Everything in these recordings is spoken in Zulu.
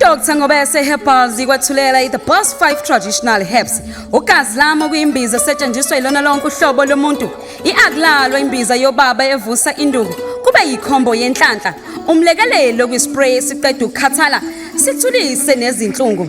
Dr Ngobese Herbals ikwathulela i-The Boss 5 Traditional Herbs. Ugazi lami okuyimbiza esetshenziswa ilona lonke uhlobo lomuntu. I-akulalo imbiza yobaba evusa induku. Kube yikhombo yenhlanhla. Umlekelelo kwispray esiqeda ukukhathala sithulise nezinhlungu.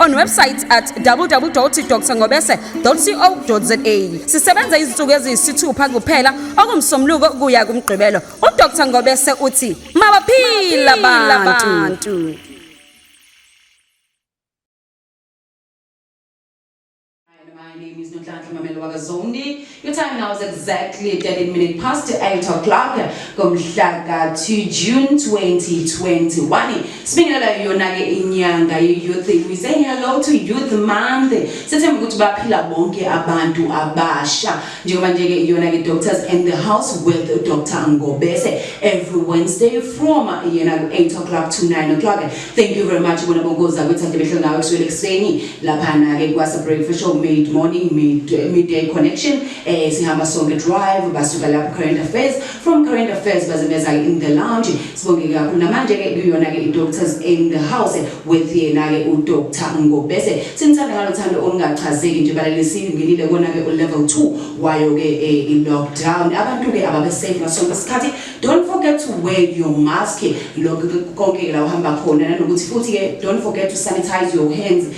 on website at www.drngobese.co.za sisebenza izinsuku eziyisithupha kuphela okumsomluko kuya kumgqibelo udr ngobese uthi mabaphila abantu My name is Nonhlanhla Mamelo Wakazondi. Your time now is exactly 13 minutes past 8 o'clock ngomhla ka-2 June 2021. Sibingelela yona-ke inyanga ye-youth. We say hello to youth month. Sethemba ukuthi baphila bonke abantu abasha. njengoba nje ke iyona ke doctors and the house with Dr Ngobese every Wednesday from yena ku 8 o'clock to 9 o'clock thank you very much bona bonkoza ukuthi ade behle ngawe kuswele kuseni lapha na ke kwasa breakfast show mid morning mid midday connection eh sihamba sonke drive basuka lapha current affairs From current affairs baze beza in the lounge sibongeke kakhulu namanje ke kuyona ke i-doctors in the house with yena ke udr ngobese sinithanda ngalo thando olungachazeki nje balelesini ngenile kona ke ulevel 2 wayo ke eh, i-lockdown abantu ke ababe safe ngaso sonke isikhathi don't forget to wear your mask lokho konke la uhamba khona nanokuthi futhi ke don't forget to sanitize your hands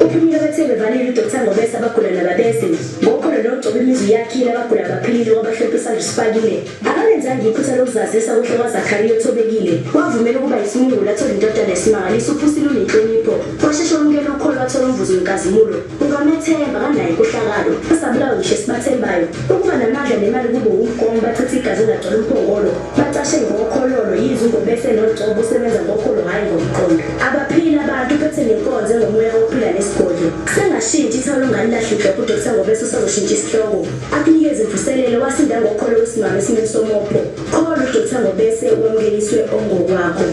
Uphumile abathe bevalile uDr Ngobese abagula nababese ngokholo nogcoba imizwa iyakhile abagula abaphilile wabahlophe isandla usifakile akalenzanga iphutha lokuzazisa kuhle kwaZakariya othobekile wavumela ukuba yisimungulu athole indodana esimangalisa uphusile unenhlonipho washeshe wamukela ukholo wathola umvuzo wenkazimulo ungamethemba kanayo inkohlakalo asabulawa ngisho esibathembayo ukuba namandla nemali kube wumgomo bachitha igazi elagcwala umphongolo bacashe ngokhololo yize ungobese nocobo usebenza ngokholo hhayi ngomqondo abaphili abantu uphethe nenkonzo engomoya wokuphila nesigodlo sengashintshi ithawula ungalilahle iglobhu udokisa ngobese usazoshintsha isihloko akunikeze imvuselelo wasinda ngokholo wesimama esimeni somopho kholo udokisa ngobese wamukeliswe ongokwakho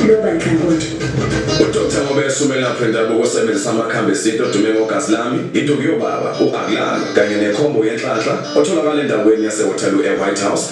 loba nhlangothi udokisa ngobese umelaphi wendabuko osebenzisa amakhambi esintu odume ngogazi lami induku yobaba u-akulalo kanye nekhombo yenhlanhla otholakala endaweni yasewaterloo e-white house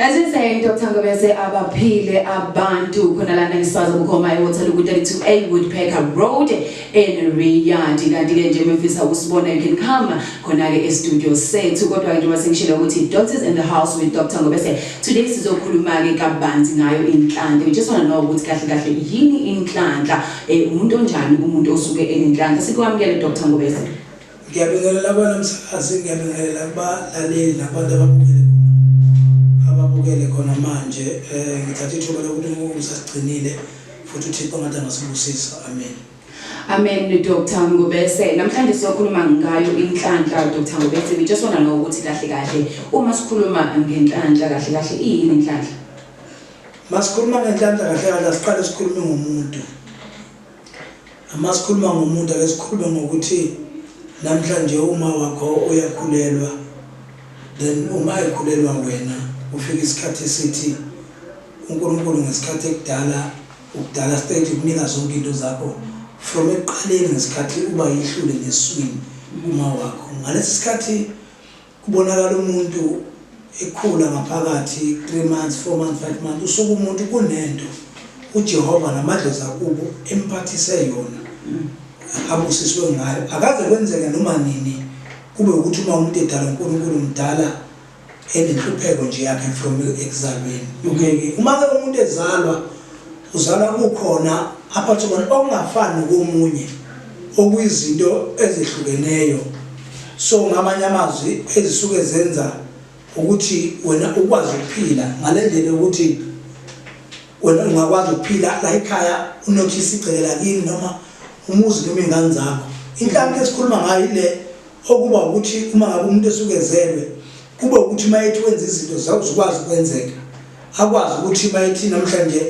As you say, Dr. Ngobese, abaphile abantu khona lana ngisazi ubukhoma eWaterloo ku-32A Woodpecker Road in Riyadh. Kanti-ke nje mefisa ukusibona you can come khona-ke e-studio sethu. Kodwa-ke njengoba sengishilo ukuthi Doctors in the House with Dr. Ngobese. Today sizokhuluma-ke kabanzi ngayo inhlanhla. We just want to know ukuthi kahle kahle yini inhlanhla? Eh, umuntu onjani umuntu osuke enenhlanhla? Sikwamukele Dr. Ngobese. Ngiyabingelela abana msakazi, ngiyabingelela kubalaleli nabantu ababukele ababukele khona manje. Eh ngithatha ithuba lokuthi uNkulunkulu usasigcinile futhi uThixo ngathi angasibusisa. Amen. Amen Dr Ngobese. Namhlanje siyokhuluma ngayo inhlanhla Dr Ngobese. We just want to know ukuthi kahle kahle uma sikhuluma ngenhlanhla kahle kahle iyini inhlanhla? Masikhuluma ngenhlanhla kahle kahle asiqale sikhulume ngomuntu. Uma sikhuluma ngomuntu ake sikhulume ngokuthi namhlanje uma wakho uyakhulelwa then uma ekhulelwa wena ufika isikhathi esithi uNkulunkulu ngesikhathi ekudala ukudala stage ukunika zonke into zakho from ekuqaleni ngesikhathi uba yihlule ngeswini uma wakho ngalesi sikhathi Kubonakala umuntu ekhula ngaphakathi 3 months 4 months 5 months usuke umuntu kunento uJehova namadlozi akubo emphathise yona abusiswe ngayo akaze kwenzeke noma nini kube ukuthi uma umuntu edala uNkulunkulu mdala enenhlupheko nje yakhe from ekuzalweni okay uma ke umuntu ezalwa Uzalwa kukhona aphathe kona okungafani nokomunye okuyizinto ezehlukeneyo so ngamanye amazwi ezisuke zenza ukuthi wena ukwazi ukuphila ngale ndlela yokuthi wena ungakwazi ukuphila la ekhaya unothisa igceke lakini noma umuzi noma iy'ngane zakho inhlanti esikhuluma ngayo ile okuba ukuthi uma ngabe umuntu esukenzelwe kube ukuthi uma ethi wenza izinto zakuzukwazi ukwenzeka akwazi ukuthi uma ethi namhlanje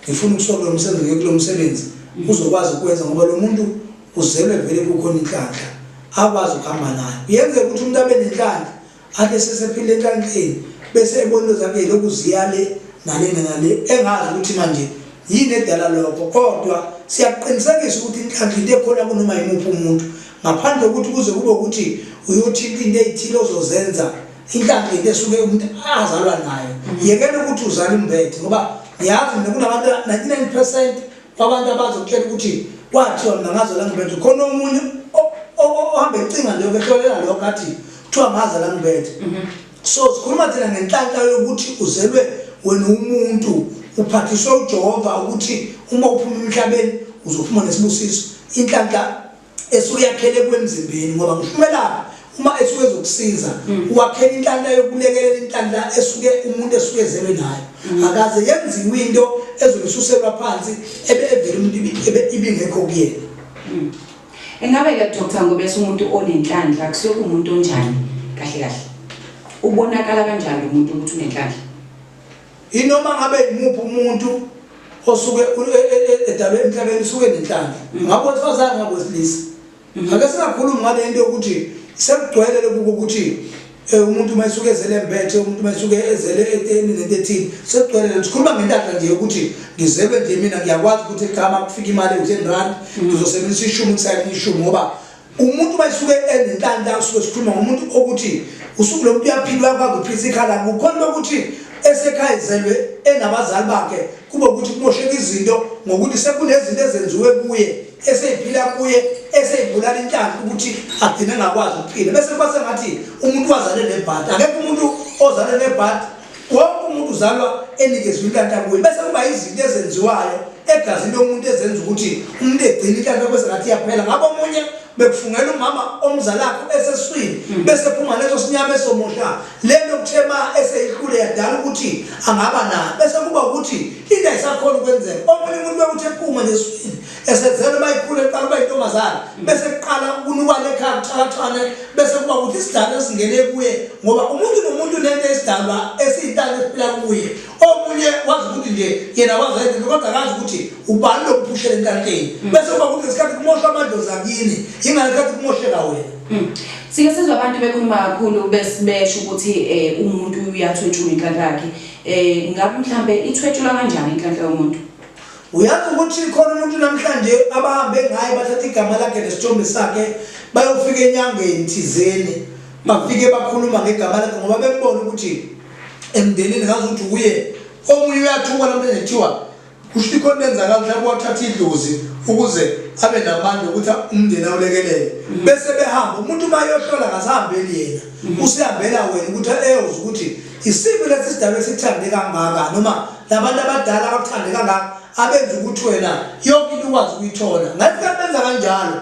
ngifuna ukusoka lo msebenzi ngiye kulo msebenzi uzokwazi ukwenza ngoba lo muntu uzelwe vele kukhona inhlanhla akwazi ukuhamba nayo yenzeka ukuthi umuntu abe nenhlanhla Ake sesephile enhlanhleni bese ebona into zakhe lokhu ziya le nale nale engazi ukuthi manje yini edala lokho kodwa siyakuqinisekisa ukuthi inhlanhla into ekhona kunoma yimuphi umuntu ngaphandle kokuthi kuze kube ukuthi uyothinta into eyithile ozozenza inhlanhla into esuke umuntu azalwa nayo yekela ukuthi uzale umbethe ngoba ngiyazi mina kunabantu 99 percent kwabantu abazokutshela ukuthi kwathiwa mina ngaze la ngibethe khona omunye ohamba ecinga leyo behlolela lokho athi kuthiwa ngaze la ngibethe mhm. so sikhuluma thina ngenhlanhla yokuthi uzelwe wena umuntu uphathiswe ujehova ukuthi uma uphuma emhlabeni uzophuma nesibusiso inhlanhla esuke yakhele kwemzimbeni ngoba ngishwelaphi uma esuke ezokusiza mm. wakhela inhlanhla yokulekelela inhlanhla esuke umuntu esuke ezelwe nayo mm. akaze yenziwe into ezomsuselwa phansi ebe evele umuntu ibingekho kuyena mm. engabe ke doctor ngoba esumuntu onenhlanhla kusuke umuntu onjani kahle kahle ubonakala kanjani umuntu ukuthi unenhlanhla Inoma ngabe imuphi umuntu osuke edalwe emhlabeni usuke nenhlanhla. Mm. Ngakho wesifazane ngakho wesilisa. Mm. Ngake singakhulumi ngale nto yokuthi sekugcwele lokuba ukuthi Eh, umuntu uma esuke ezele mbethe umuntu uma esuke ezele eteni nento ethile sekugcwele lento sikhuluma ngentahla nje yokuthi ngizelwe nje mina ngiyakwazi ukuthi ekhama kufika imali u-ten rand mm. ngizosebenzisa ishumi kusayini ishumi ngoba umuntu uma esuke enenhlanhla usuke sikhuluma ngomuntu okuthi usuku lomuntu uyaphila uyakwazi ukuphilisa ikhala kukhona lokuthi esekhaya izelwe enabazali bakhe kube ukuthi kumosheka izinto ngokuthi sekunezinto ezenziwe kuye eseyiphila kuye eseyibulala inhlanhla ukuthi agcine engakwazi ukuphila bese kuba sengathi umuntu wazale nebhadi akekho umuntu ozale nebhadi Wonke umuntu uzalwa enikezwe inhlanhla kuye bese kuba izinto ezenziwayo egazini lomuntu ezenza ukuthi umuntu egcine inhlanhla bese ngathi iyaphela ngabo omunye bekufungela umama omzalakho eseswini hmm. bese phuma leso sinyama esomusha lento kuthema eseyihlule yadala ukuthi angaba na bese kuba ukuthi into ayisakhona ukwenzeka omunye umuntu bekuthi ephuma neswini esevele uma ikhule eqala uba intombazane bese kuqala ukunukwana ekhaya kuxhakaxhane bese kuba ukuthi isidalwa esingene kuye ngoba umuntu nomuntu nento esidalwa esiyintana esiphila kuye omunye wazi ukuthi nje yena wazayenzela kodwa akazi ukuthi ubani lokuphushela entanteni mm. bese kuba ukuthi ngesikhathi kumosha amadlozi akini yingale sikhathi kumosheka wena mm. sike sizwe abantu bekhuluma kakhulu besibesho ukuthi um umuntu uyathwetshula inhlanhla yakhe um ngabe mhlawumbe ithwetshula kanjani inhlanhla yomuntu Uyazi ukuthi khona umuntu namhlanje abahambe ngaye bathatha igama lakhe nesithombe sakhe bayofika enyangeni thizeni bafike bakhuluma ngegama lakhe ngoba bembona ukuthi emndenini ngazi ukuthi kuye omunye uyathuka lomntu enethiwa kusho ukuthi khona benzakala mhlawumbe wathatha idlozi ukuze abe namandla ukuthi umndeni awulekelele mm. bese behamba umuntu uma yohlola ngasihambeli yena mm. usihambela wena ukuthi eyozwa ukuthi isiphi lesi sidaba esithande kangaka noma labantu abadala abakuthande kangaka abenza ukuthi wena yonke into ukwazi ukuyithola ngathi kanti benza kanjalo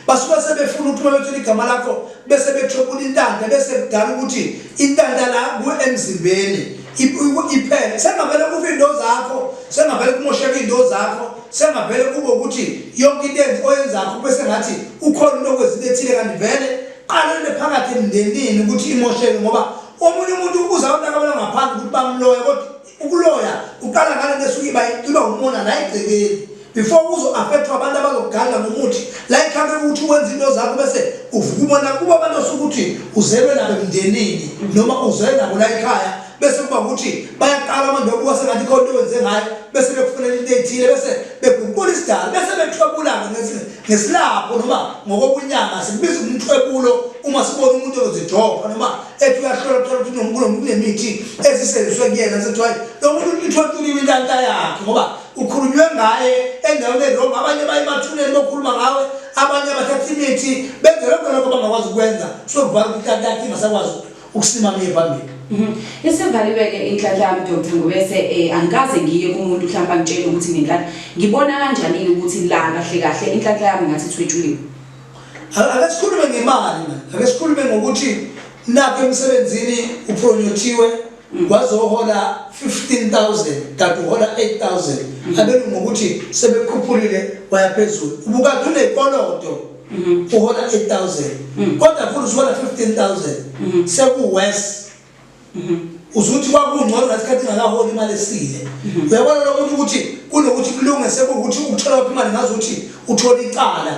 basuke sebefuna ukuthi uma bethola igama lakho bese bethwebula intanda bese kudala ukuthi intanda la kuwe emzimbeni iphele sengavele kufe into zakho sengavele kumosheka into zakho sengavele kube ukuthi yonke into enzi oyenzakho bese ngathi ukhona into okwezile ethile kanti vele qala into phakathi emndenini ukuthi imosheke ngoba omunye umuntu ubuza abantu akabona ngaphandle ukuthi bamloya kodwa ukuloya uqala ngale nto esuke iba iba umona la egcekeni before kuzo-afekthwa abantu abazokuganga ngomuthi la ikhambe ukuthi wenza into zakho bese uvuka umona kuba abantu osuke ukuthi uzelwe nabo emndenini noma uzelwe nabo la ekhaya bese kuba ukuthi bayaqala abantu okuba sengathi khona into wenze ngayo bese bekufunela into ethile bese beguqula isidala bese bethwebulana ngezinye ngesilapho noma ngokobunyanga sibiza umthwebulo uma sibona umuntu ozijova noma ethi uyahlola kuthola ukuthi unomuntu kunemithi ezisenziswe kuyena sekuthiwa lo muntu ithwethuliwe intanta yakhe ngoba ukhulunywe ngaye endaweni erongo abanye baye emathuneni bokhuluma ngawe abanye abathatha imithi benze lokho lokho bangakwazi ukwenza sokuvala ukuthi intanta yakhe ingasakwazi ukusimama iye phambili Mhm. Isivaliwe ke inhlanhla yami Dr. Ngobese eh angikaze ngiye kumuntu mhlawumbe angitshele ukuthi ngenhlanhla ngibona kanjani yini ukuthi la kahle kahle inhlanhla yami ngathi ithwetshuliwe. A- ake sikhulume ngemali manje ake sikhulume ngokuthi nakho emsebenzini upronyothiwe wazohola 15000 kanti uhola 8000 abelungu ngokuthi sebekhuphulile wayaphezulu ubukade unekoloto uhola 8000 kodwa futhi usuhola 15000 seku worse uzuthi kwakungcono ngasikhathi ngakaholi imali esile uyabona lokho ukuthi kunokuthi kulunge sekuwukuthi uthola waphi imali ngazi ukuthi uthola icala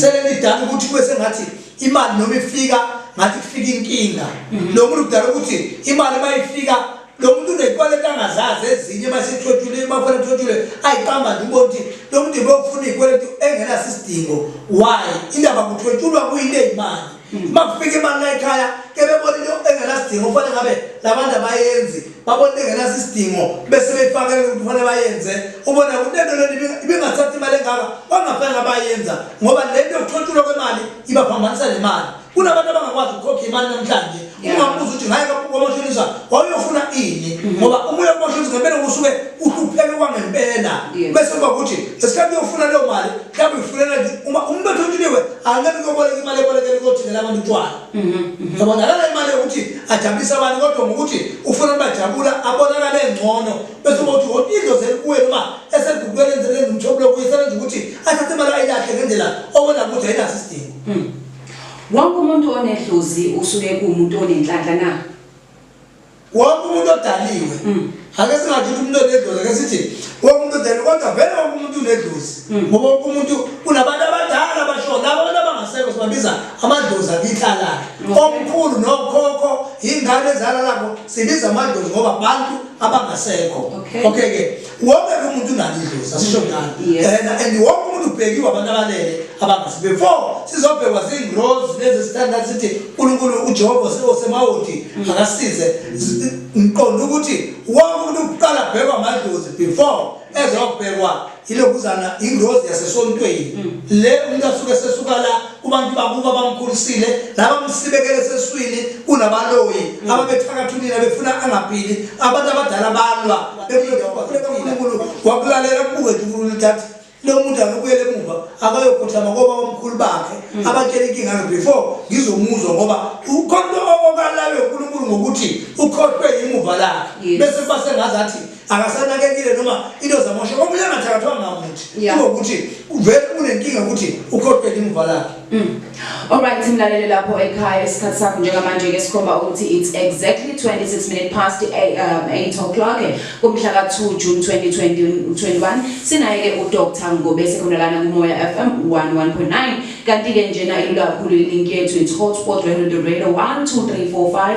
selelidala ukuthi kube sengathi imali noma ifika ngathi kufika inkinga lo muntu kudala ukuthi imali uma ifika lo muntu unezikweleti angazazi ezinye masethwethule mafuna thwethule ayiqamba nje ubona ukuthi lo muntu ibokufuna izikweleti engenaso isidingo why indaba kuthwethulwa kuyile imali hmm. uma kufika imali la ekhaya kebebona into engenasidingo kufanele ngabe labantu abayenzi babona into engenaso isidingo bese beyifakele ukuthi kufanele bayenze ubona ukuthi lento lento ibingathathi imali engaka bangafanele abayenza ngoba lento yokuthwethulwa kwemali ibaphambanisa nemali kunabantu abangakwazi ukukhokha imali namhlanje ungabuza ukuthi ngaye kwamashonisa wawuyofuna ini mm-hmm. ngoba umoya wamashonisa ngempela kusuke uhlupheke kwangempela bese kuba ukuthi ngesikhathi uyofuna leyo mali mhlawumbe uyifunela uma umuntu othontshuliwe angeke kuyoboleka imali ebolekele kuyothengela abantu utshwala mm-hmm, mm-hmm. yabona akala imali yokuthi ajabulise abantu kodwa ngokuthi ufuna bajabula abonakale ngcono bese kuba ukuthi woti into zeli kuwe noma esegukwelenzele umthobulokuyisele nje ukuthi athathe imali ayilakhe ngendlela obona ukuthi ayinaso isidingo mm. Wonke umuntu onedlozi usuke kuwumuntu onenhlanhla na? Wonke umuntu odaliwe. Mm. Ake singathi umuntu onedlozi ake sithi wonke umuntu odaliwe kodwa vele wonke umuntu unedlozi. Mm. Ngoba wonke umuntu kunabantu abadala abasho labo abantu abangasekho sibabiza amadlozi akithala. Mm. Omkhulu nokhokho ingane ezala labo sibiza amadlozi ngoba abantu abangasekho. Okay ke. wonke umuntu unalo idlozi asisho njani and and wonke umuntu ubhekiwe abantu abalele abangasi before sizobhekwa zingrozi lezi standard sithi uNkulunkulu uJehova osemawodi mm. akasize ngiqonda ukuthi wonke umuntu uqala bhekwa amadlozi before ezobhekwa ilokuzana ingrozi yasesontweni mm. le umuntu asuke sesuka la kubantu bakuba bamkhulisile nabamsibekele seswini kunabaloyi mm. ababethakathulile befuna angaphili abantu abadala balwa bekulenkulunkulu wakulalela kubuke nkulunkulu thathi lo muntu akubuyele emuva akayokhuthama koba omkhulu bakhe mm. abatshela inkinga yakhe before ngizomuzwa ngoba ukhonto okalayo unkulunkulu ngokuthi ukhohlwe yimuva lakhe bese kuba sengazathi akasanakekile noma into zamosha omunye angathakathwa ngamuthi Yeah. ngokuthi uvele unenkinga ukuthi ukhohlwe limuva lakhe Mm. Alright simlalele lapho ekhaya isikhathi sakho njengamanje ke sikhomba ukuthi it's exactly 26 minutes past eight, um, 8 o'clock eh, kumhla ka 2 June 2021 sinaye ke uDr Ngobese khona lana kuMoya FM 101.9 kanti ke njena ilula kakhulu ilink yethu it's hotspot radio radio 12345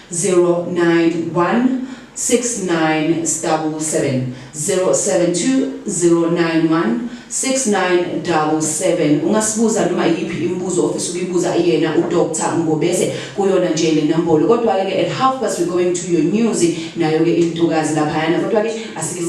09169777072091697 ungasibuza noma yiphi imibuzo ofisa ukuyibuza yena uDr Ngobese kuyona nje le nombolo kodwa ke at half past we going to your news nayo ke intokazi laphayana kodwa ke asike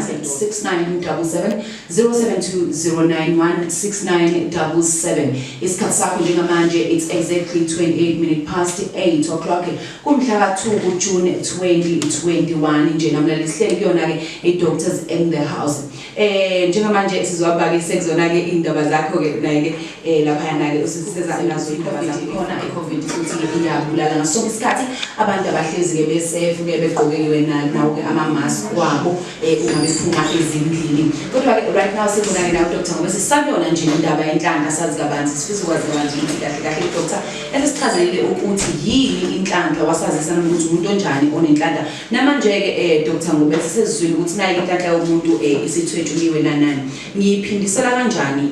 sethi 6977 0720916977 isikhathi sakho njengamanje it's exactly 28 minute past 8 o'clock kumhla ka-2 kujune 2021 nje namlali sihleli kuyona-ke i-doctors in the house eh njengamanje sizwabake sekuzona-ke iy'ndaba zakho-ke naye-ke um eh, laphayana-ke usiseza nazo iy'ndaba zakho khona i-covid futhi iyabulala ngaso sonke isikhathi abantu abahlezi-ke besefu-ke begqoke-ke wena nawo-ke ama-mask wabo eh, uma bephuma ezindlini kodwa-ke right now sibonane nawo doctor ngoba sisayona nje indaba yenhlanga sazi kabanzi sifisa ukwazi kabanzi ukuthi kahle kahle doctor esesichazelile ukuthi yini inhlanhla wasazisa nokuthi umuntu onjani onenhlanhla namanje-ke um doctor ngoba sisezizwile ukuthi nayo inhlanhla yomuntu um eh, isithwetshuliwe nanani ngiyiphindisela kanjani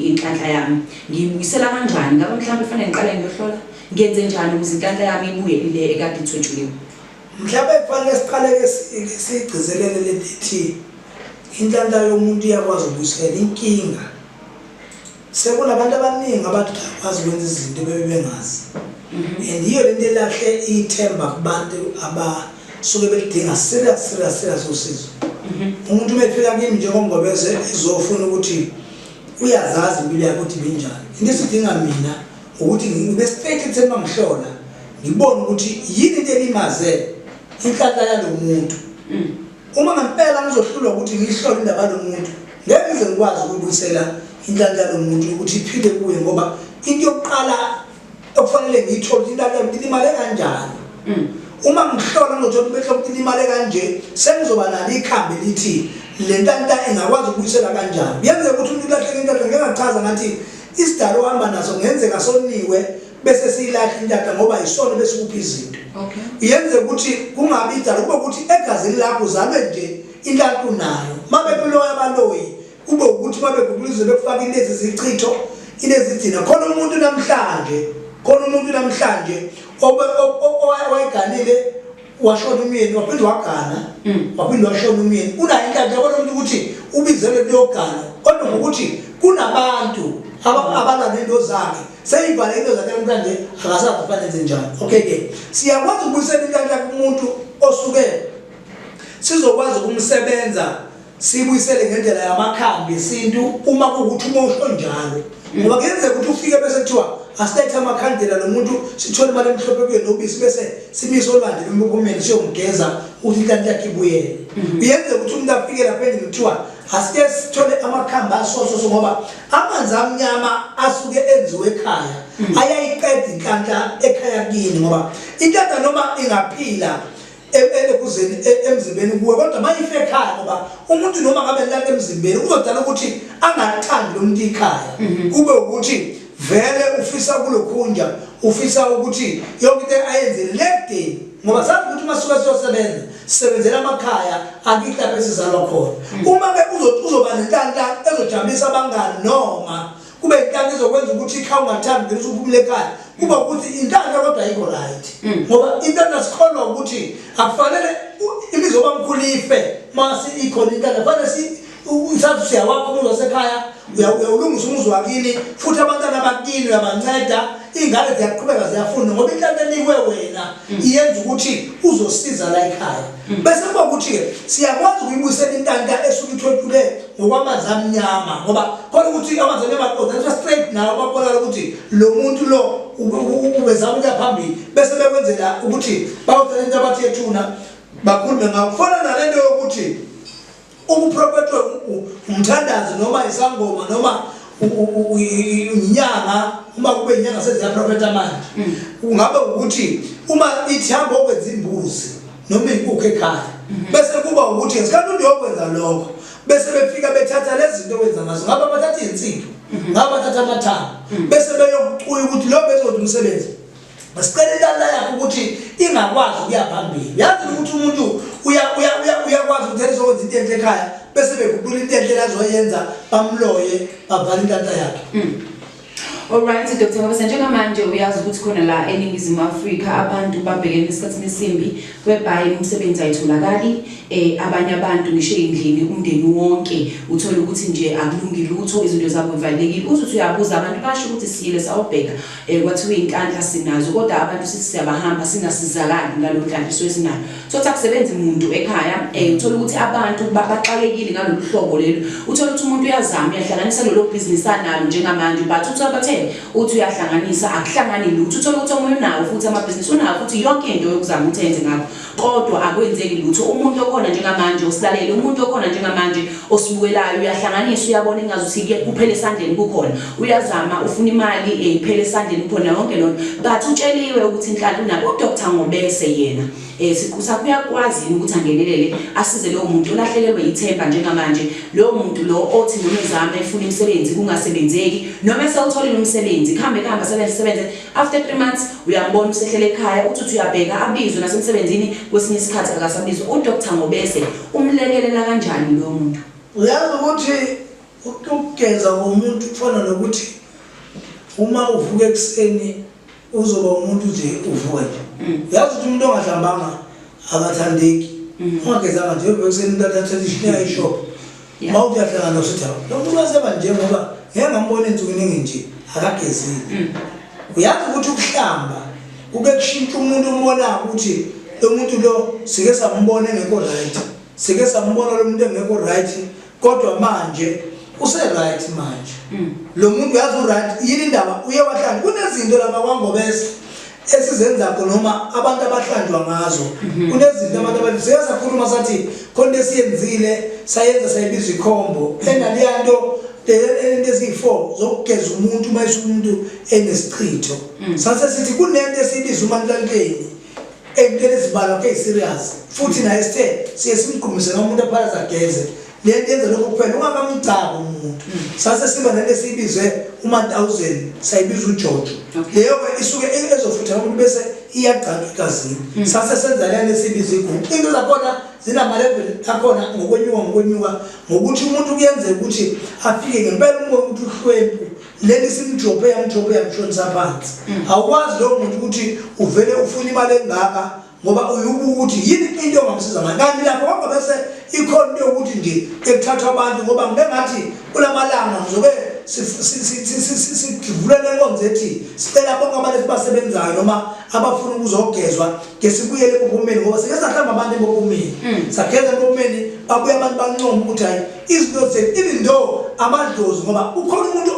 inhlanhla yami ngiyibuyisela kanjani ngabe mhlawumbe kufanele ngiqale ngiyohlola ngenze njani ukuze inhlanhla yami ibuye le ekade ithwetshuliwe Mhlawumbe kufanele siqale-ke sigcizelele le nto inhlanhla yomuntu iyakwazi ukubuyisela inkinga sekunabantu abaningi abantu bakwazi ukwenza izinto bebe bengazi mhm. and yiyo le nto elahle ithemba kubantu abasuke belidinga serious serious serious usizo mhm. umuntu uma efika kimi njengomgobeze ezofuna ukuthi uyazazi impilo yakhe ukuthi ibinjani into esidinga mina ukuthi ngibe straight ekutheni uma ngihlola ngibone ukuthi yini into elimaze inhlanhla yalo muntu mm. uma ngempela ngizohlulwa ukuthi ngihlole indaba yalo muntu ngeke ngize ngikwazi ukubuyisela inhlanhla yalo muntu ukuthi iphile kuye ngoba into yokuqala okufanele ngiyithole inhlanhla yalo muntu imale kanjani mm. uma ngihlola ngizothola ubehlo muntu imale kanje sengizoba nalo ikhambi lithi le ntanta ingakwazi ukubuyisela kanjani kuyenzeka ukuthi umuntu ilahleke inhlanhla ngengachaza ngathi Isidalo ohamba naso ngenzeka soniwe bese siyilahla intata ngoba yisona bese kuphi izinto. Okay. Yenze ukuthi kungabi idalo kube ukuthi egazini lakho uzalwe nje intathu nayo. Mabe kuloya baloyi kube ukuthi mabe kukulize bekufaka ilezi zichitho inezidina khona umuntu namhlanje khona umuntu namhlanje owayeganile washona umyeni waphinde wagana mm. waphinde washona umyeni unayo inkathi yabona umuntu ukuthi ubizelwe kuyogana kodwa ngokuthi kunabantu abalwa nento zakhe seyibhala into zakhe namhlanje akasazi kufanele enze njani okay ke siyakwazi ukubuyisela inkathi yakhe umuntu osuke sizokwazi ukumsebenza siyibuyisele ngendlela yamakhambi esintu uma kuwukuthi uma usho njalo ngoba kuyenzeka ukuthi ufike bese kuthiwa asilethe amakhandela lo muntu sithole imali emhlophe kuye nobisi bese simise olwandle lomphumeni siyomgeza ukuthi inhlanhla yakhe ibuyele mhm. kuyenzeka ukuthi umuntu afike lapha endlini kuthiwa asike sithole amakhambi asososo ngoba amanzi amnyama asuke enziwe ekhaya mhm. ayayiqeda inhlanhla ekhaya kini ngoba inhlanhla noma ingaphila ekuzeni e, e, emzimbeni kuwe kodwa uma ifekhaya ngoba umuntu noma ngabe lala emzimbeni kuzodala ukuthi angathandi lo muntu ikhaya mhm. kube ukuthi vele ufisa kulokhunja ufisa ukuthi yonke into ayenzele ledeni ngoba sazi ukuthi uma suke siyosebenza sisebenzela amakhaya akithi lapho esizalwa khona mhm. uma-ke uzoba nentantanto ezojabulisa abangani noma kube inkani ezokwenza ukuthi ikha ungathandi vele usuphumile ekhaya kuba ukuthi intanda kodwa ayikho right mm. ngoba intanda sikholwa ukuthi akufanele imizoba mkhulu ife mase ikhona intanda kufanele si uthatha usiya wakho umuzi wasekhaya uyawulungisa umuzi wakini futhi abantwana bakini uyabanceda iy'ngane ziyaqhubeka ziyafunda ngoba intanda enikwe wena mm. iyenza ukuthi uzosiza la ekhaya mm. bese kuba ukuthi-ke siyakwazi ukuyibuyisela intanda esuke ithwethulele ngokwamanzi amnyama ngoba khona ukuthi amanzi amnyama aqoda kuthiwa straight nawo babonakala ukuthi lo muntu lo ubezama ukuya phambili bese bekwenzela ukuthi bawuthatha into abathi yethuna bakhulume ngakho kufana nale nto yokuthi ukuprofethwe umthandazi noma isangoma noma inyanga uma kube inyanga seziyaprofetha manje mm. kungabe ukuthi uma ithi hamba okwenza imbuzi noma inkukhu ekhaya mhm. bese kuba ukuthi ngesikhathi umuntu yokwenza lokho bese befika bethatha lezi zinto wenza ngazo ngaba bathatha izinsimbi mhm. ngaba bathatha amathanga mhm. bese beyokucuya ukuthi lo bezothi umsebenzi basicela ilala yakho ukuthi ingakwazi ukuya phambili yazi ukuthi umuntu uyakwazi ukuthi ezokwenza into enhle ekhaya bese beguqula into enhle lazoyenza bamloye bavala intanta yakhe Alright Dr. Mabasa njengamanje uyazi ukuthi khona la eningizimu Afrika abantu babhekene esikhathini esimbi whereby umsebenzi ayitholakali eh abanye abantu ngisho endlini umndeni wonke uthola ukuthi nje akulungi lutho izinto zabo zivalekile uthi uthi uyabuza abantu basho ukuthi siyile sawubheka eh kwathiwa inkandla sinazo kodwa abantu sithi siyabahamba singasizakali ngalomdlalo swesinalo Sothi akusebenzi muntu ekhaya eh uthola ukuthi abantu baxakekile ngalolu hlobo lelo uthola ukuthi umuntu uyazama uyahlanganisa lelo business analo njengamanje but uthola bathe uthi uyahlanganisa akuhlangani lutho uthola ukuthi omunye unawo futhi ama business unawo futhi yonke into yokuzama uthenze ngakho kodwa akwenzeki lutho umuntu okhona njengamanje usilalele umuntu okhona njengamanje osibukelayo uyahlanganisa uyabona ingazi usike kuphele esandleni kukhona uyazama ufuna imali eh, iphele esandleni kukhona yonke lona but utsheliwe ukuthi inhlala unabo uDr Ngobese yena eh siqu sakho uyakwazi ukuthi angenelele asize lowo muntu olahlekelwe ithemba njengamanje lowo muntu lo othi noma ezama efuna imisebenzi kungasebenzeki noma esewutholile umsebenzi kuhambe kuhambe sebenze sebenze After three months uyambona usehlela ekhaya uthi uthi uyabheka abizwe nasemsebenzini kwesinye isikhathi akasabizwa udr ngobese umlekelela kanjani loyo muntu uyazi ukuthi ukugeza komuntu kufana nokuthi uma uvuka ekuseni uzoba umuntu nje uvuka nje mm. uyazi ukuthi umuntu ongahlambanga akathandeki mm. ungagezanga nje uvuka ekuseni umntu athathe ishineya ishophu uma yeah. uyahlangana usithi lo muntu waseba nje ngoba ngeke ngambona insuku ningi nje akagezile mm. uyazi ukuthi ukuhlamba kuke kushintsha umuntu umbona ukuthi lo muntu lo sike sambona engekho right sike sambona lo muntu engekho right kodwa manje use right manje mm. lo muntu uyazi u right yini indaba uye wahlangana kunezinto lama kwangobese esizenzakho noma abantu abahlanjwa ngazo mhm. kunezinto abantu abathi siya sakhuluma sathi khona into esiyenzile sayenza sayibiza ikhombo enaliya nto into eziyi-four zokugeza umuntu uma isa umuntu enesichitho mm. sase sithi kunento esiyibiza umanlalukeni eyintweni ezibalwa ke-serious futhi naye sithe siye simgqumise noma umuntu aphalaza geze lento yenza lokho kuphela ungakamgcabo umuntu sase siba nento esiyibizwe uma-1000 sayibiza ujojo leyo-ke isuke ezofutha umuntu bese iyagcaba egazini mm. sase senza lento esiyibiza igugu into zakhona zinamaleveli akhona ngokwenyuka ngokwenyuka ngokuthi umuntu kuyenzeka ukuthi afike ngempela umoya ukuthi uhlwempu leli simjobhe yamjobhe yamshonisa phansi mm. awukwazi lowo muntu ukuthi uvele ufuna imali engaka ngoba uyubuka ukuthi yini into ongamsiza ngayo kanti lapho kwaba bese ikhona into yokuthi nje ekuthathwa abantu ngoba ngike ngathi kula malanga ngizobe sivulela enkonzo ethi sicela bonke abantu esibasebenzayo noma abafuna ukuzogezwa ke sibuyele ekuphumeni ngoba sike sahlamba abantu ekuphumeni mm. sageza ekuphumeni babuye abantu bancoma ukuthi hayi izinto zethu even though amadlozi ngoba ukhona umuntu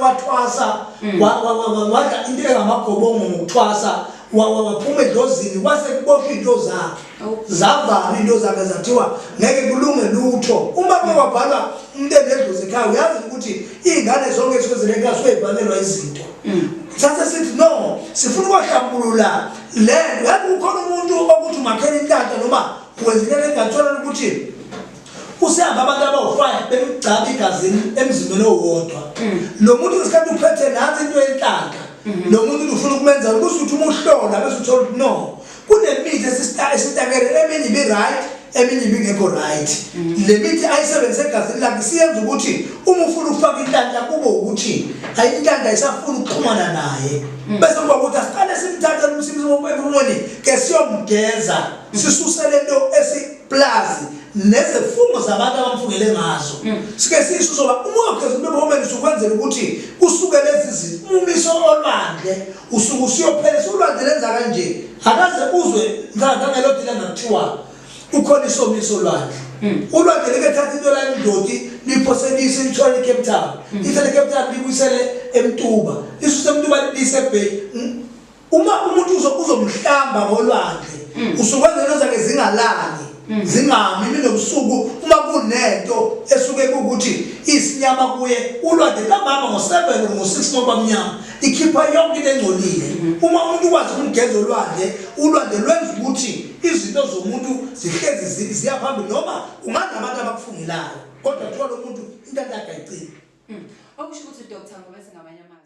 owathwasa mm. wadla into engamagobongo ngokuthwasa waphuma edlozini kwase kuboshwa into zakhe zavala into zakhe zathiwa ngeke kulunge lutho uma kwabhalwa umuntu enedlozi ekhaya uyazi ukuthi iy'ngane zonke esuke zilenkaso uyayibhalelwa izinto mm. sase sithi no sifuna ukwahlambulula le nto yazi kukhona umuntu okuthi umakhela intanta noma wenzelele engathola ukuthi Usehamba abantu abawu-five bemgcaba igazini emzimbeni owodwa mm. lo muntu ngesikhathi uphethe nansi into yenhlanhla mm-hmm. lo muntu ufuna ukumenza ukuthi uthi uma uhlola bese uthola ukuthi no kunemithi esitakele eminye ibi-right eminye ibingekho right mm-hmm. le mithi ayisebenzise egazini lakhe siyenza ukuthi uma ufuna ukufaka inhlanhla kube ukuthi inhlanhla isafuna ukuxhumana naye mm. bese kuba ukuthi asiqale simthathe umsimsimo empumoni ke siyomgeza mm. sisuse lento pulazi nezifungo zabantu abamfungele ngazo hmm. sike sisho soba umoya phezulu bebomeni usukwenzela ukuthi usuke lezi zinto umumiso olwandle usuke usuyophela solwandle lenza kanje akaze uzwe ngangelodile ngakuthiwa ukhona isomiso olwandle hmm. ulwandle likethatha into la indodi liphoselise lithwale ecape town hmm. ithathe ecape town libuyisele emtuba isuse emtuba libuyise ebheki uma umuntu uzo- uzomhlamba ngolwandle usuke ezento zakhe zingalali zingami imini nobusuku uma kunento esuke kuwukuthi isinyama kuye ulwandle ntambama ngo-seven or ngo-six ngobamnyama ikhipha yonke into engcolile uma umuntu ukwazi ukumgeza olwandle ulwandle lwenza ukuthi izinto zomuntu zihlezi zi- ziya phambili noma unganabantu abakufungelayo kodwa kuthiwa lo muntu into yakhe ayicini okusho ukuthi udr ngobe singamanye amazwi